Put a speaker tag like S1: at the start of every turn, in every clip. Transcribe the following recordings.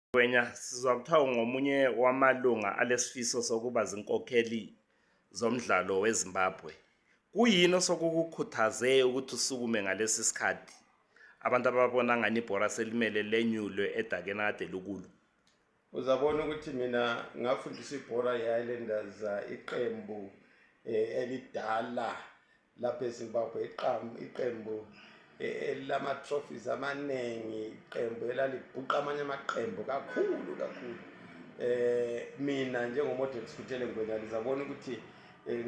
S1: Ngwenya sizwa kuthiwa ungomunye wamalunga alesifiso sokuba zinkokheli zomdlalo weZimbabwe. Kuyini osokukukhuthaze ukuthi usukume ngalesi sikhathi? Abantu ababona ngani ibhora selimele lenyulwe edakeni kade likulo. Uzabona
S2: ukuthi mina ngafundisa ibhora yeHighlanders uh, iqembu eh, elidala lapha ezimbabwe iqembu elilama-trophies amaningi iqembu elalibhuqa amanye amaqembu kakhulu kakhulu eh mina njengomodel sikuthele ngwenya lizabona ukuthi eh,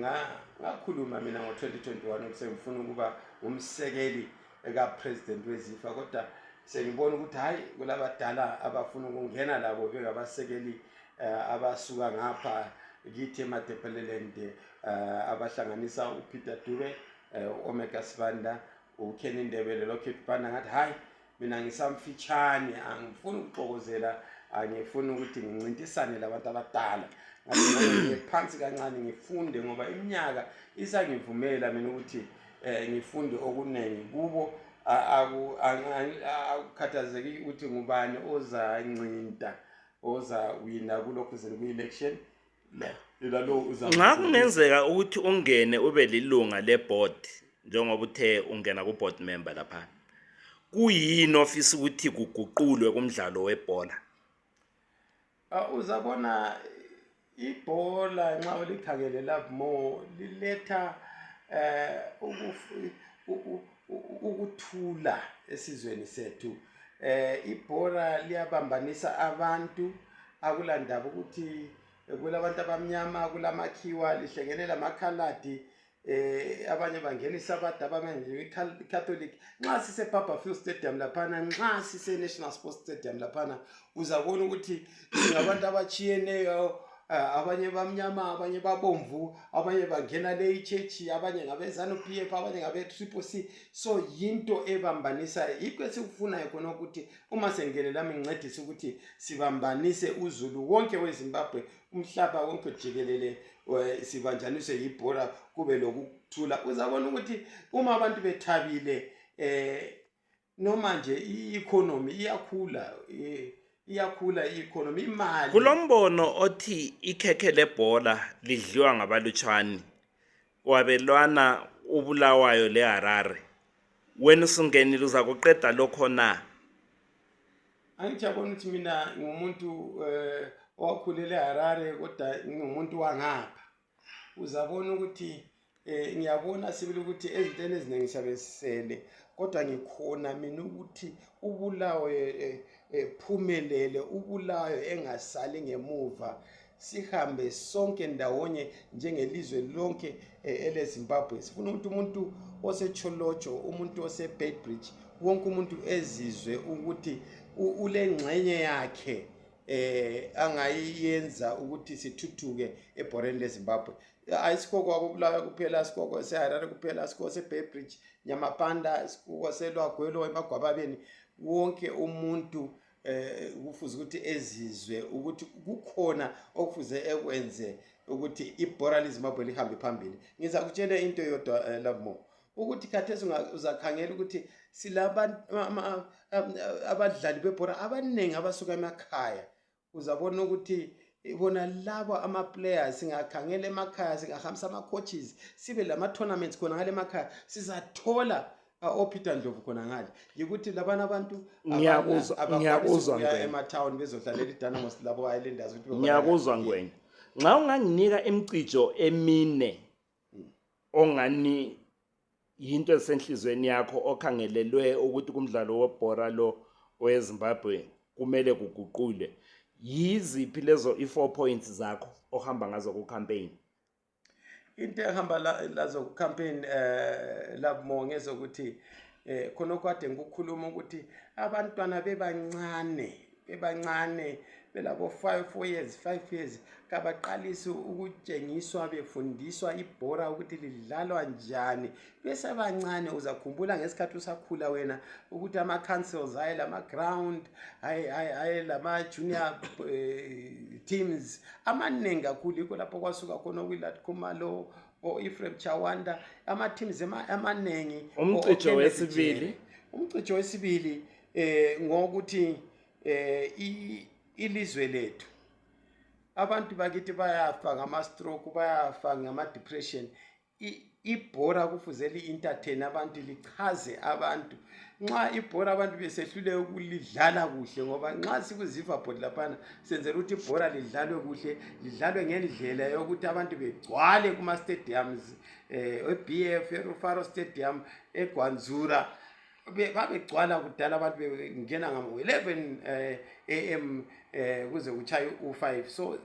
S2: ngakhuluma mina ngo-2021 ukuthi sengifuna ukuba umsekeli ekapresident wezifa kodwa sengibona ukuthi hhayi kulabadala abafuna ukungena labo bengabasekeli um abasuka ngapha kithi emadepeleland um eh, abahlanganisa upeter dube um eh, omega sibanda uken indebele lokhit banda ngathi hhayi mina ngisamfitshane angifuni ukuxokozela angifuni ukuthi ngincintisane labantu abadala ngaphansi kancane ngifunde ngoba iminyaka isangivumela mina ukuthi eh, ngifunde okunengi kubo akukhathazeki ukuthi ngubani ozancinta ozawina kulokhu zini kwi-election
S1: nxa kungenzeka ukuthi ungene ube lilunga leboard njengoba uthe ungena ku-board member lapha kuyini ofisa ukuthi kuguqulwe kumdlalo webhola Ah,
S2: uzabona ibhola nxa ulikhangele love more liletha um ukuthula esizweni sethu um ibhola liyabambanisa abantu akulandaba ukuthi kulabantu abamnyama kulamakhiwa lihlengene lamakhaladi eh abanye bangena isabatha abanye bangena icatholic nxa sise barberfield stadium laphana nxa sise national sports stadium laphana uzabona ukuthi singabantu abatshiyeneyo eh, abanye bamnyama abanye babomvu abanye bangena le ichechi abanye ngabezanu p f abanye ngabe triple c so yinto ebambanisayo yikho esikufunayo khona ukuthi uma sengene lami ngincedise ukuthi sibambanise uzulu wonke wezimbabwe umhlaba wonke jikelele eh, sibanjaniswe yibhora kube lokuthula uzabona ukuthi uma abantu bethabile eh noma nje i-economy iyakhula eh, iyakhula i-economy imali kulombono othi
S1: ikhekhe lebhola lidliwa ngabalutshwane wabelwana ubulawayo leharare wena usungenile uzakuqeda lokho na angijabona
S2: ukuthi mina ngumuntu um eh, owakhulele harare kodwa ngingumuntu wangapha uzabona ukuthi eh ngiyabona sibili ukuthi ezintweni eziningi sabesele kodwa ngikhona mina ukuthi ubulawe eh, eh, ephumelele ubulawe engasali ngemuva sihambe sonke ndawonye njengelizwe lonke eh, elezimbabwe sifuna ukuthi umuntu osecholotsho umuntu osebedbridge wonke umuntu ezizwe ukuthi ulengxenye yakhe eh angayiyenza ukuthi sithuthuke ebhoreni lezimbabwe ayisikho kwakubulawa kuphela sikoko seharare kuphela sikoko sebedbridge nyamapanda sikoko selwagwelo emagwababeni wonke umuntu eh, kufuze ukuthi ezizwe ukuthi kukhona okufuze ekwenze ukuthi ibhora lizimbabwe lihambe phambili ngizakutshela into yodwa eh, labo ukuthi khathesi uzakhangela ukuthi silabadlali bebhora abaningi abasuka emakhaya uzabona ukuthi bona labo amaplayers singakhangela emakhaya singahambisa ama-coaches sibe lama-tournaments khona ngale emakhaya sizathola Ah, opeter ndlovu khona ngale yikuthi labana abantu Ngiyakuzwa- abana- ngiyakuzwa,
S1: abakwanisa ukuya Ngwenya. ematown
S2: bezodlalela idynamos labo islanders ukuthi baba- ngiyakuzwa ngwenya
S1: nxa unganginika imcijo emine ongani yinto esenhlizweni yakho okhangelelwe ukuthi kumdlalo webhora lo owezimbabwe kumele kuguqule yiziphi lezo i-four points zakho ohamba ngazo ku-campaign
S2: into ehamba lazo campaign um eh, labo ngezokuthi um khonokho kade ngikukhuluma ukuthi abantwana bebancane bebancane belabo five four years five years kabaqalisi ukutshengiswa befundiswa ibhora ukuthi lidlalwa njani besebancane uzakhumbula ngesikhathi usakhula wena ukuthi ama-councils aye lama-ground aye lama-junior eh, teams amaningi kakhulu yikho lapho kwasuka khona okwilat khumalo o-efrem chawanda ama-teams amaningi umcijo
S1: wesibili umcijo wesibili eh
S2: ngokuthi eh ilizwe lethu abantu bakithi bayafa ngama-stroke bayafa ngama-depression ibhora kufuze li-entertain abantu lichaze abantu nxa ibhora abantu besehlule ukulidlala kuhle ngoba nxa sikuzivabhod laphana senzela ukuthi ibhora lidlalwe kuhle lidlalwe ngendlela yokuthi abantu begcwale kuma-stadiums eh, um eb f erufaro stadium egwanzura babegcwala kudala abantu bengena ngamo-eleven um eh, am um eh, kuze kutshaye u-five so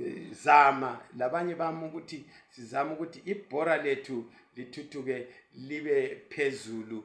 S2: eh, zama labanye bami ukuthi sizama ukuthi ibhora lethu lithuthuke libe phezulu